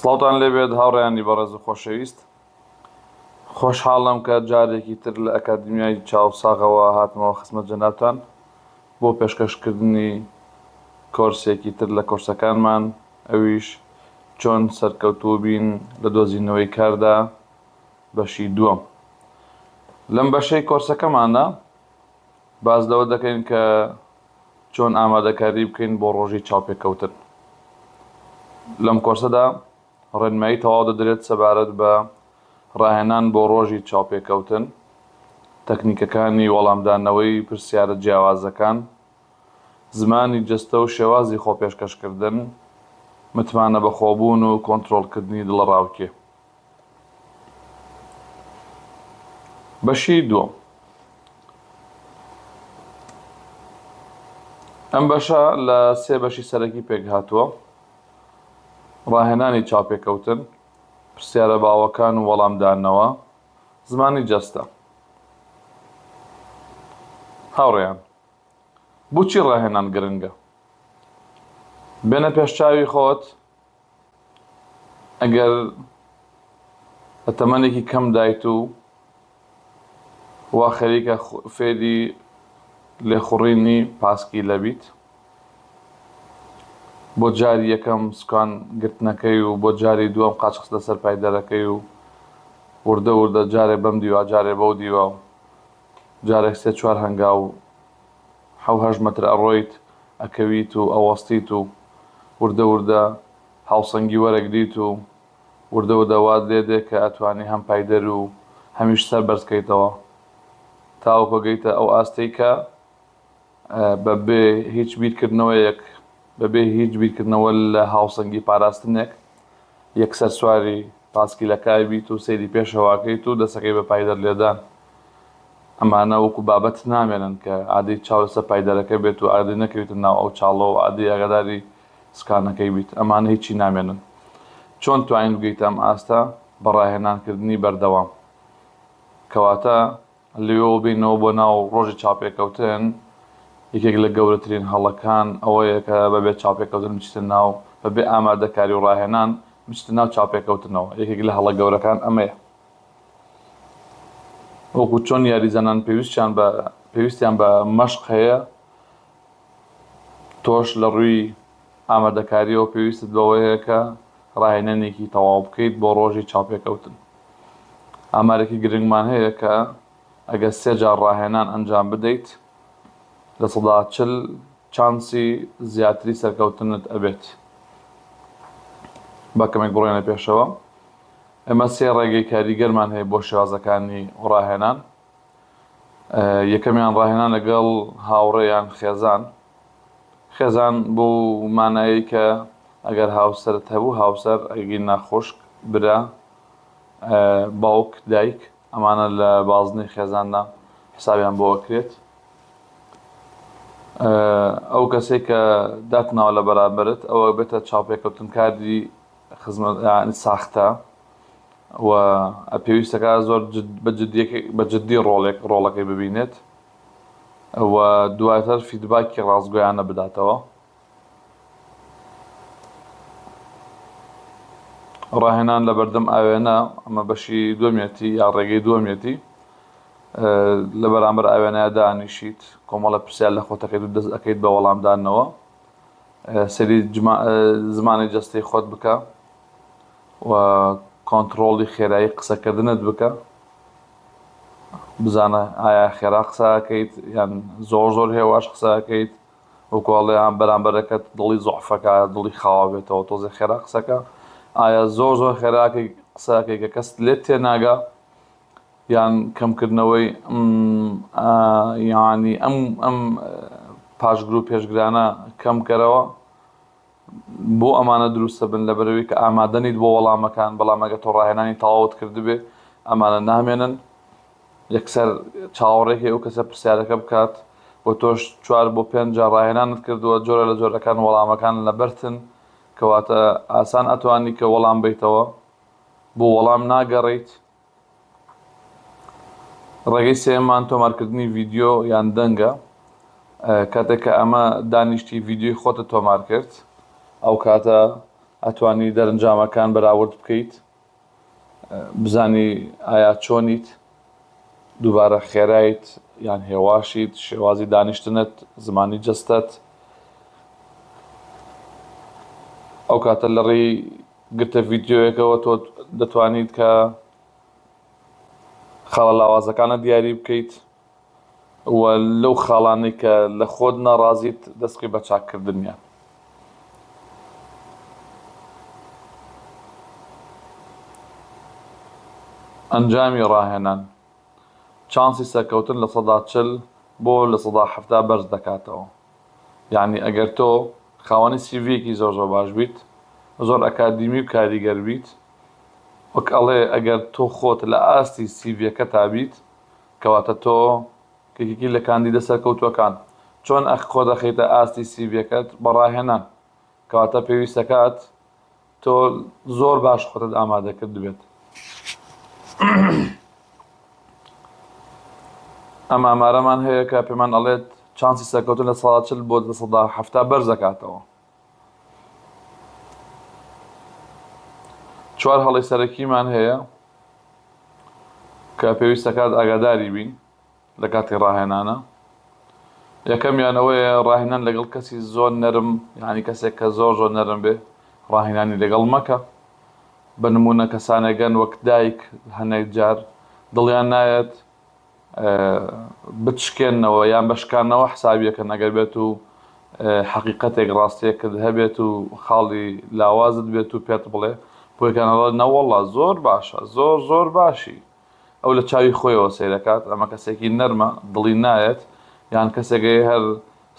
سڵاوتان لێبێت هاوڕیانی بەڕێز و خۆشەویست خۆشحاڵم کە جارێکی تر لە ئەکادمیای چاوساغەوە هاتمەوە خسمە جەنابان بۆ پێشکەشکردنی کۆرسێکی تر لە کۆرسەکانمان ئەویش چۆن سەرکەوتوو بین لە دۆزینەوەی کاردا بەشی دووەم لەم بەشەی کۆرسەکەماندا باس لەوە دەکەین کە چۆن ئامادەکاری بکەین بۆ ڕۆژی چاوپێکەوتن لەم کۆرسەدا ڕێنمایی تەواو دەدرێت سەبارەت بە ڕاهێنان بۆ ڕۆژی چاوپێکەوتن تەکنیکەکانی وەڵامدانەوەی پرسیارە جیاوازەکان زمانی جەستە و شێوازی خۆپێشکەشکردن متمانە بەخۆبوون و کۆنتترۆلکردنی دڵەڕاوکێ بەشی دووەم ئەم بەشە لە سێ بەشی سەرەکی پێک هاتووە ڕاهێنانی چاپێکەوتن پرسیارە باوەکان و وەڵامدانەوە زمانی جەستە هاوڕێیان بچی ڕاهێنان گرنگە بێنە پێشچوی خۆت ئەگەر لە تەمەنێکی کەمدایت و وا خەریکە فێری لێخوڕینی پاسکیلە بیت، بۆ جاری یەکەم سوکان گرتنەکەی و بۆ جاری دووەم قاچخست لەسەر پای دەرەکەی و وردە وردە جارێ بەم دیوە جارێ بەو دیوە و جارێک سێ چوار هەنگاو حەو هەشت مەتر ئەڕۆیت ئەکەویت و ئەوەستیت و وردە وردە هاوسەنگی وەرەگریت و وردە وردە وات لێ دێ کە ئەتوانی هەم پایدەر و هەمیش سەر بەرز کەیتەوە تاوەکۆ گەیتە ئەو ئاستەی کە بە بێ هیچ بیر کردنەوەیەک بە بێ هیچ بیر کردنەوە لە هاوسەنگی پاراستنێک یەکسەر سواری پاسکیلەکە ئەبیت و سەیری پێشەوە ئەکەیت و دەسەکەی بە پایدەر لێدان ئەمانە وەکو بابەت نامێنن کە ئادەی چاو لەسەر پایدەرەکە بێت و ئادەی نەکەویتە ناو ئەو چاڵە و ئادەی ئاگاداری سکانەکەی بیت، ئەمانە هیچی نامێنن. چۆن توانین بگەیتە ئەم ئاستە بە ڕاهێنانکردنی بەردەوام؟ کەواتە لەوێوە بێینەوە بۆ ناو ڕۆژی چاوپێکەوتن، یەکێک لە گەورەترین هەڵەکان ئەوەیە کە بەبێ چاوپێکەوتن بچیتە ناو، بەبێ ئامادەکاری و ڕاهێنان بچیتە ناو چاوپێکەوتنەوە، یەکێک لە هەڵە گەورەکان ئەمەیە. وەکو چۆن یاریزانان پێویستیان بە پێویستیان بە مەشق هەیە، تۆش لە ڕووی ئامادەکارییەوە پێویستت بەوەیە کە ڕاهێنانێکی تەواو بکەیت بۆ ڕۆژی چاوپێکەوتن. ئامارێکی گرنگمان هەیە کە ئەگەر سێ جار ڕاهێنان ئەنجام بدەیت، لە سەدا چل چانسی زیاتری سەرکەوتنت ئەبێت. با کەمێک بڕۆینە پێشەوە. ئێمە سێ ڕێگەی کاریگەرمان هەیە بۆ شێوازەکانی ڕاهێنان. یەکەمیان ڕاهێنان لەگەڵ هاوڕێ یان خێزان. خێزان بۆ مانایی کە ئەگەر هاوسەرت هەبوو هاوسەر، ئەگینا خوشک، برا، باوک، دایک، ئەمانە لە بازنەی خێزاندا حسابیان بۆ ئەکرێت. ئەو کەسەی کە داتناوە لە بەرامبەرت ئەوە بێتە چاوپێکەوتنکاری خزمەت یانی ساختە و پێویستەکە زۆر بە جددی ڕۆڵێک ڕۆڵەکەی ببینێت و دواتر فیدباکی ڕاستگۆیانە بداتەوە ڕاهێنان لە بەردەم ئاوێنە ئەمە بەشی دومێتی یا ڕێگەی دومێتی لە بەرامبەر ئاوێنە دانیشیت کۆمەڵە پرسیار لە خۆتەکەیت و دەست ئەەکەیت بە وەڵامدانەوە سەیری زمانی جەستەی خۆت بکە و کۆنتڕۆڵی خێرایی قسەکردنت بکە بزانە ئایا خێرا قسەکەیت یان زۆر زۆر هێواش قسەکەیت و کۆڵیان بەرامبەرەکەت دڵی زۆعفەکە دڵی خاوە بێتەوە تۆزی خێرا قسەکە ئایا زۆر زۆر خێراکەی قسەکەی کە کەس لێت تێناگا یان کەمکردنەوەی یانی ئەم پاشگرو پێشگرانە کەم کەرەوە بۆ ئەمانە دروست ئەبن لەبەرئەوەی کە ئامادە نیت بۆ وەڵامەکان بەڵام ئەگەر تۆ ڕاهێنانی تەواوت کردبێ ئەمانە نامێنن یەکسەر چاوەڕێ کەی ئەو کەسە پرسیارەکە بکات و تۆش چوار بۆ پێنج جار ڕاهێنانت کردوە جۆرە لە جۆرەکان وەڵامەکان لەبەرتن کەواتە ئاسان ئەتوانی کە وەڵام بەیتەوە بۆ وەڵام ناگەڕێیت ڕێگەی سێیەممان تۆمارکردنی ڤیدیۆ یان دەنگە کاتێک کە ئەمە دانیشتی ڤیدیۆی خۆتە تۆمار کرد ئەو کاتە ئەتوانی دەرنجامەکان بەراورد بکەیت بزانی ئایا چۆنیت دووبارە خێرایت یان هێواشیت شێوازی دانیشتنت زمانی جستت ئەو کاتە لەڕێی گرتە ڤیدیۆیەکەوە تۆ دەتوانیت کە خاڵە لاوازەکانە دیاری بکەیت و لەو خاڵانەی کە لە خۆت ناڕازیت دەستکی بە چاککردنیان ئەنجامی ڕاهێنان چانسی سەرکەوتن لە سەدا چل بۆ لە سەدا حەفتا بەرز دەکاتەوە. یەعنی ئەگەر تۆ خاوەنی سیڤیەکی زۆر زۆر باش بیت زۆر ئەکادیمی و کاریگەر بیت وەک ئەڵێ ئەگەر تۆ خۆت لە ئاستی سیڤیەکەتا بیت کەواتە تۆ یەکێکی لە کاندیدە سەرکەوتوەکان چۆن ئەخ خۆت ئەخەیتە ئاستی سیڤیەکەت بە ڕاهێنان کەواتە پێویست دەکات تۆ زۆر باش خۆتت ئامادە کردبێت ئەم ئامارەمان هەیە کە پێمان ئەڵێت چانسی سەرکەوتن لە ساڵچل بۆ دەسەدا هەفتا بەر دەکاتەوە چوار هەڵی سەرەکیمان هەیە کە پێویستەکات ئاگاداری بین لە کاتی ڕاهێنانە یەکەمیان ئەوەیە ڕاهێنان لەگەڵ کەسی زۆر نەرم یانی کەسێک کە زۆر زۆر نەرم بێ ڕاهێنانی لەگەڵ مەکە بە نمونە کەسانێگەن وەک دایک هەنێک جار دڵیان نایەت بتشکێنەوە یان بە شکانەوە حسابیەکەن ئەگەر بێت و حەقیقەتێک ڕاستیەکرد هەبێت و خاڵی لاوازت بێت و پێت بڵێ بۆیکانەڵە نەوەڵا زۆر باشە زۆر زۆر باشی ئەو لە چاوی خۆیەوە سەیرەکات ئەمە کەسێکی نەرمە دڵی نایەت یان کەسێکەیە هەر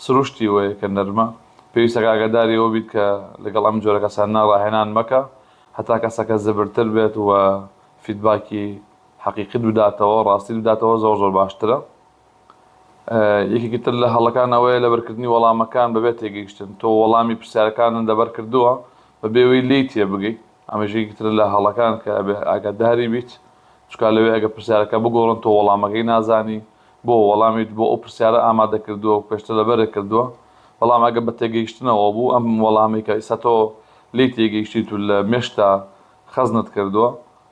سروشتی وەیە کە نەرمە پێویستەکە ئاگاداری ئەوە بیت کە لەگەڵ ئەم جۆرە کەسانە ڕاهێنان مەکە هەتا کەسەکە زبرتر بێت وە فیدباکی حەقیقیت بداتەوە ڕاستیت بداتەوە زۆر زۆر باشترە یەکێکی تر لە هەڵەکان ئەوەیە لەبەرکردنی وەڵامەکان بەبێ تێگەیشتن تۆ وەڵامی پرسیارەکانت لەبەر کردووە بەبێ وی لێی تێبگەی ئەمەش یەکێکی ترە لە هەڵەکان کە ئەبێ ئاگاداری بیت، چونکا لەوێ ئەگەر پرسیارەکە بگۆڕن تۆ وەڵامەکەی نازانی، بۆ وەڵامیت بۆ ئەو پرسیارە ئامادە کردووە و پێشتر لەبەرت کردووە، بەڵام ئەگەر بە تێگەیشتنەوە بوو ئەم وەڵامەی کە ئیستا تۆ لێی تێگەیشتیت و لە مێشکتا خەزنت کردووە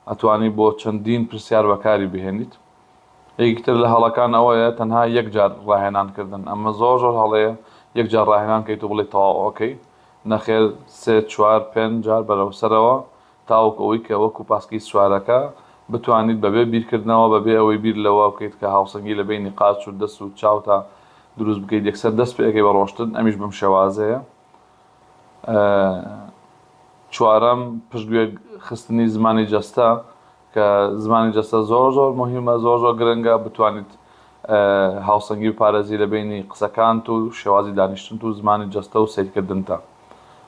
ئەتوانی بۆ چەندین پرسیار بەکاری بهێنیت. یەکێکی تر لە هەڵەکان ئەوەیە تەنها یەک جار ڕاهێنان کردن، ئەمە زۆر زۆر هەڵەیە یەک جار ڕاهێنان کەیت و بڵێیت تەواو ئۆکەی نەخێر سێ چوار پێنج جار بەرەو سەرەوە تاوەکو ئەوەی کە وەکو پاسکیل سوارەکە بتوانیت بەبێ بیرکردنەوە بەبێ ئەوەی بیر لەوە بکەیت کە هاوسەنگی لە بەینی قاچ و دەست و چاوتا دروست بکەیت یەکسەر دەست پێ ئەکەی بە ڕۆشتن ئەمیش بەم شێوازەیە چوارەم پشتگوێ خستنی زمانی جەستە کە زمانی جەستە زۆر زۆر موهیمە زۆر زۆر گرنگە بتوانیت هاوسەنگی بپارێزی لە بەینی قسەکانت و شێوازی دانیشتنت و زمانی جەستە و سەیرکردنتا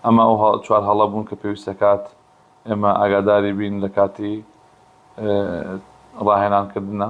ئەمە ئەو چوار هەڵە بوون کە پێویست دەکات ئێمە ئاگاداری بین لە کاتی ڕاهێنان کردنا.